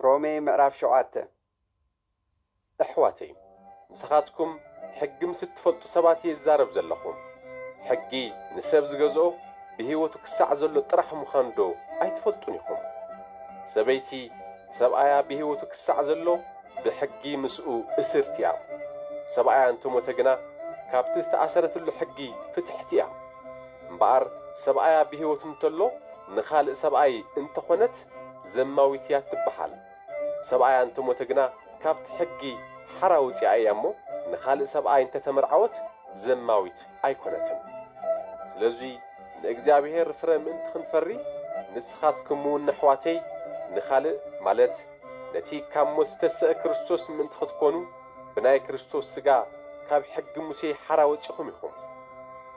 ሮሜ ምዕራፍ ሸውዓተ እሕዋተይ ምሳኻትኩም ሕጊ ምስ እትፈልጡ ሰባት እየ ዝዛረብ ዘለኹ። ሕጊ ንሰብ ዝገዝኦ ብህይወቱ ክሳዕ ዘሎ ጥራሕ ምዃኑዶ ኣይትፈልጡን ኢኹም? ሰበይቲ ሰብኣያ ብህይወቱ ክሳዕ ዘሎ ብሕጊ ምስኡ እስርቲ እያ። ሰብኣያ እንተ ሞተ ግና ካብቲ ዝተኣሰረትሉ ሕጊ ፍትሕቲ እያ። እምበኣር ሰብኣያ ብህይወቱ እንተሎ ንኻልእ ሰብኣይ እንተ ኾነት ዘማዊት እያ እትበሃል። ሰብኣያ እንተ ሞተ ግና ካብቲ ሕጊ ሓራ ወጺኣ እያ እሞ ንኻልእ ሰብኣይ እንተ ተመርዓወት ዘማዊት ኣይኰነትን። ስለዙይ ንእግዚኣብሔር ፍረ ምእንቲ ኽንፈሪ ንስኻትኩምውን ኣሕዋተይ ንኻልእ ማለት ነቲ ካብ ሞት ዝተሰእ ክርስቶስ ምእንቲ ኽትኰኑ ብናይ ክርስቶስ ሥጋ ካብ ሕጊ ሙሴ ሓራ ወጺኹም ኢኹም።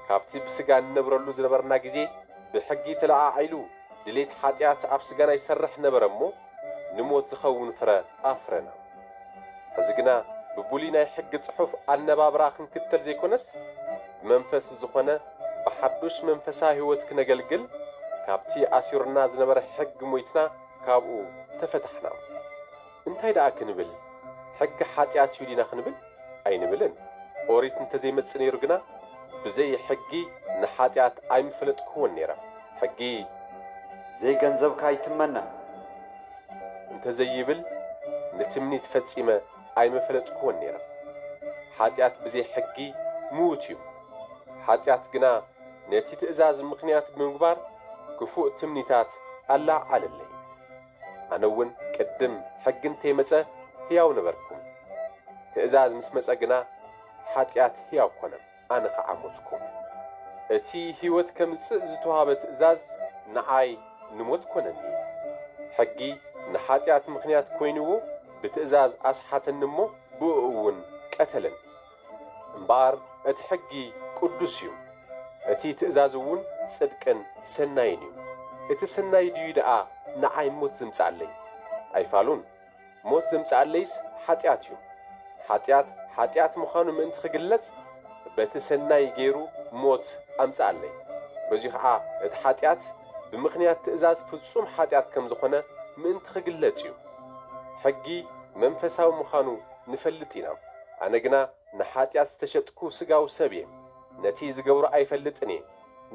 ካብቲ ብሥጋ እንነብረሉ ዝነበርና ጊዜ ብሕጊ ተለዓዒሉ ድሌት ሓጢኣት ኣብ ስጋና ይሰርሕ ነበረ እሞ ንሞት ዝኸውን ፍረ ኣፍረና። ሕዚ ግና ብብሉይ ናይ ሕጊ ጽሑፍ ኣነባብራ ክንክተል ዘይኮነስ ብመንፈስ ዝኾነ ብሓዱሽ መንፈሳዊ ሕይወት ክነገልግል ካብቲ ኣሲሩና ዝነበረ ሕጊ ሞይትና ካብኡ ተፈታሕና። እንታይ ደኣ ክንብል ሕጊ ሓጢኣት እዩ ዲና ክንብል ኣይንብልን ኦሪት እንተ ዘይመጽእ ነይሩ ግና ብዘይ ሕጊ ንሓጢኣት ኣይምፈለጥክዎን ነይረ ሕጊ ዘይ ገንዘብካ ኣይትመነ። እንተ ዘይብል ንትምኒት ፈጺመ ኣይምፈለጥክዎን ነይረ ሓጢኣት ብዘይ ሕጊ ምዉት እዩ ሓጢኣት ግና ነቲ ትእዛዝ ምኽንያት ብምግባር ክፉእ ትምኒታት ኣላዓዓለለይ። ኣነ እውን ቅድም ሕጊ እንተይመጸ ሕያው ነበርኩ፣ ትእዛዝ ምስ መጸ ግና ኃጢኣት ሕያው ኮነ፣ ኣነ ኸዓ ሞትኩ። እቲ ሕይወት ከምጽእ ዝተውሃበ ትእዛዝ ንኣይ ንሞት ኮነኒ። ሕጊ ንኃጢኣት ምኽንያት ኮይንዎ ብትእዛዝ ኣስሓተኒ እሞ ብእኡውን ቀተለኒ። እምበኣር እቲ ሕጊ ቅዱስ እዩ፣ እቲ ትእዛዝ እውን ጽድቅን ሰናይን እዩ። እቲ ስናይ ድዩ ደኣ ንዓይ ሞት ዜምጽኣለይ? ኣይፋሉን። ሞት ዜምጽኣለይስ ሓጢኣት እዩ። ሓጢኣት ሓጢኣት ምዃኑ ምእንቲ ኺግለጽ፣ በቲ ሰናይ ገይሩ ሞት ኣምጽኣለይ። በዙይ ኸዓ እቲ ሓጢኣት ብምኽንያት ትእዛዝ ፍጹም ሓጢኣት ከም ዝኾነ ምእንቲ ኺግለጽ እዩ። ሕጊ መንፈሳዊ ምዃኑ ንፈልጥ ኢና፣ ኣነ ግና ንሓጢኣት ዝተሸጥኩ ስጋዊ ሰብ እየ፣ ነቲ ዝገብሮ ኣይፈልጥን እየ፣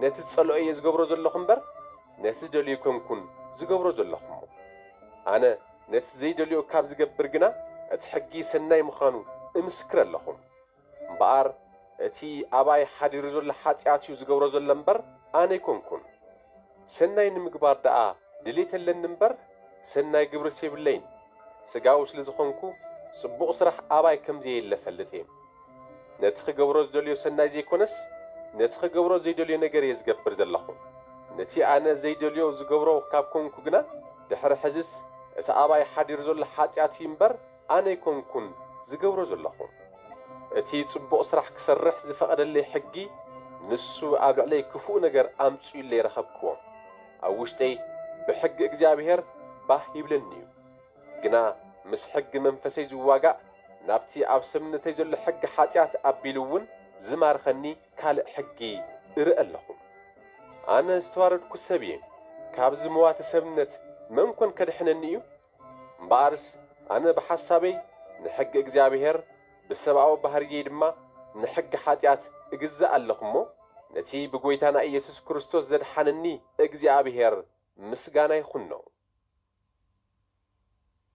ነቲ ዝጸልኦ እየ ዝገብሮ ዘለኹ እምበር፣ ነቲ ዝደልዮ ኣይኮንኩን ዝገብሮ ዘለኹ እሞ፣ ኣነ ነቲ ዘይደልዮ ካብ ዝገብር ግና እቲ ሕጊ ሰናይ ምዃኑ እምስክር ኣለኹ። እምበኣር እቲ ኣባይ ሓዲሩ ዘሎ ሓጢኣት እዩ ዝገብሮ ዘሎ እምበር ኣነ ኣይኮንኩን። ሰናይ ንምግባር ደኣ ድሌት ኣለኒ እምበር ሰናይ ግብርስ የብለይን። ስጋዊ ስለ ዝኾንኩ ጽቡቕ ስራሕ ኣባይ ከም ዘየለ እፈልጥ እየ። ነቲ ክገብሮ ዝደልዮ ሰናይ ዘይኮነስ ነቲ ክገብሮ ዘይደልዮ ነገር እየ ዝገብር ዘለኹ። ነቲ ኣነ ዘይደልዮ ዝገብሮ ካብ ኮንኩ ግና ድሕሪ ሕዚስ እቲ ኣባይ ሓዲሩ ዘሎ ሓጢኣት እዩ እምበር ኣነ ኣይኮንኩን ዝገብሮ ዘለኹ። እቲ ጽቡቕ ስራሕ ክሰርሕ ዝፈቐደለይ ሕጊ፣ ንሱ ኣብ ልዕለይ ክፉእ ነገር ኣምጺኡለይ ረኸብክዎ። ኣብ ውሽጠይ ብሕጊ እግዚኣብሄር ባህ ይብለኒ'ዩ። ግና ምስ ሕጊ መንፈሰይ ዝዋጋእ፣ ናብቲ ኣብ ሰብነተይ ዘሎ ሕጊ ሓጢኣት ኣቢሉ'ውን ዝማርኸኒ ካልእ ሕጊ እርኢ ኣለኹ። ኣነ ዝተዋረድኩ ሰብ'የ፣ ካብዚ መዋቲ ሰብነት መን ኮን ከድሕነኒ'ዩ? እምበኣርስ ኣነ ብሓሳበይ ንሕጊ እግዚኣብሄር ብሰብኣዊ ባህርየይ ድማ ንሕጊ ሓጢኣት እግዛእ ኣለኹ እሞ፣ ነቲ ብጐይታና ኢየሱስ ክርስቶስ ዘድሓነኒ እግዚኣብሄር ምስጋና ይኹኖ።